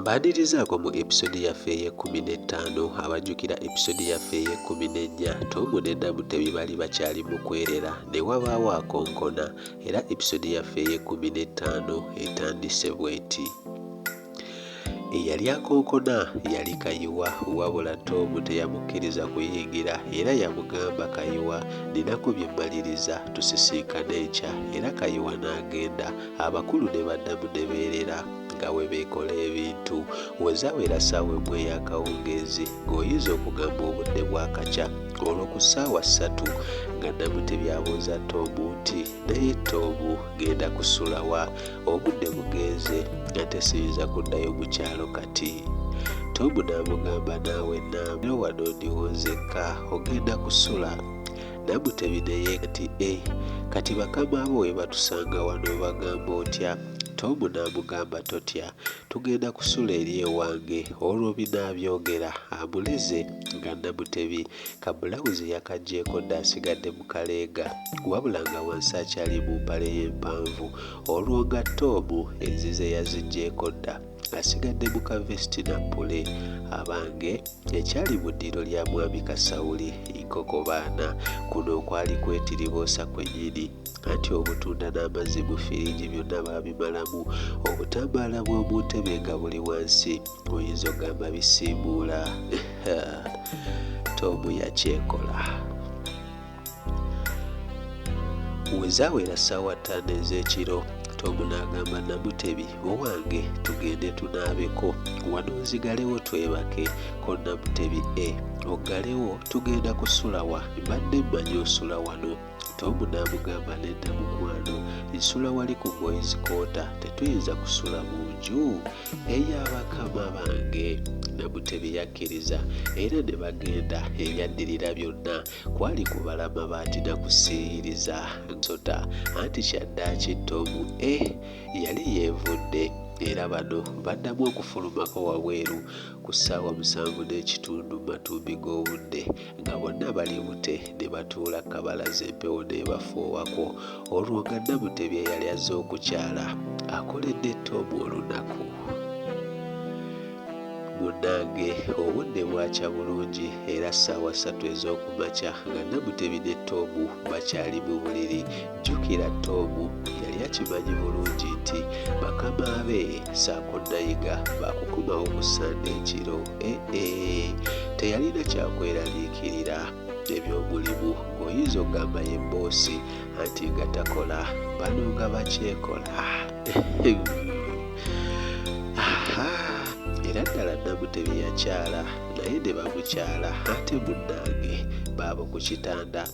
mbaadirizaako mu episode yaffe ey'ekkumi n'ettaano abajjukira episode yaffe ey'ekkumi n'ennya tomu ne namutebi bali bakyali mu kwerera ne wabaawo akonkona era episode yaffe ey'ekkumi n'ettaano etandise bw'eti Eyali akonkona yali Kayiwa wabula Tom teyamukkiriza kuyingira era yamugamba Kayiwa ninako bye mmaliriza tusisinkane enkya era Kayiwa n'agenda abakulu ne baddamu ne beerera nga bwe beekola ebintu. We zawera ssaawa emu ey'akawungeezi ng'oyinza okugamba obudde bwakakya olwo ku ssaawa ssatu nga Namutebi abuuza Tom nti naye Tom genda kusulawa? Obudde bugenze ate siyinza kuddayo ku kyalo kati. Tomu n'amugamba naawe naamyo wano ndiwo nzekka ogenda kusula. Namutebi ne yeekati e eh, kati bakama bo we batusanga wano obagamba otya? Tomu n'amugamba totya tugenda kusula eri ewange olwo binaabyogera amuleze nga Namutebi ka bbulawuzi yakaggyeko dda asigadde kaleega wabula nga wansi akyali mu mpale ye empanvu olwo nga toomu enzize yazigyeko dda asigadde mu kavesiti na pule abange ekyali mu ddiiro lya mwami kasawuli nkoko baana kuno okwali kwetiriboosa kwenyini anti obutunda n'amazzi mu firiigi byonna baabimalamu obutambaala bw'omu ntebe nga buli wansi oyinza ogamba bisiibuula tomu yakyekola wezawera ssaawa ttaano ez'ekiro tomu n'agamba namutebi owange tugende tunaabeko wano nzigalewo twebake ko namutebi e oggalewo tugenda kusulawa mbadde mmanyi osula wano tomu n'amugamba nedda mukwano nsula wali ku boyizikoota tetuyinza kusula mu nju eya bakama bange namutebi yakkiriza era ne bagenda ebyaddirira byonna kwali kubala mabaati na kusiiyiriza nsota anti kyaddaaki ttoomu e eh, yali yeevudde era bano baddamu okufulumako wabweru ku ssaawa musanvu n'ekitundu mu matumbi g'obudde nga bonna bali bute ne batuula ku kabalaza empewo n'ebafuuwako olwo nga Namutebi eyali azze okukyala akoledde Tom olunaku. Munnange obudde bwakya bulungi era ssaawa ssatu ez'oku makya nga Namutebi ne Tom bakyali mu buliri Jjukira Ttoomu yali akimanyi bulungi nti bakama be ssaako Nayiga baakukomawo ku Ssande ekiro. Eh-eh! Teyalina kyakweraliikirira. Eby'omulimu ng'oyinza okugamba ye bboosi anti nga takola bano nga bakyekola. Aha! Era ddala Namutebi yakyala naye ne bamukyala ate munnange baabo ku kitanda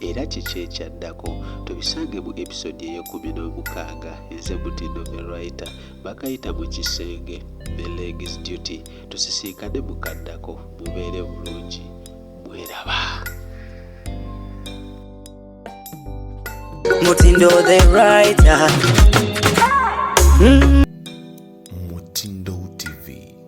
era kiki ekyaddako tubisange mu episode eyekumi n'omukaaga enze mutindo the writer bakayita mu kisenge the legs duty tusisinkane mukaddako mubeere bulungi mweraba mutindo the writer mm.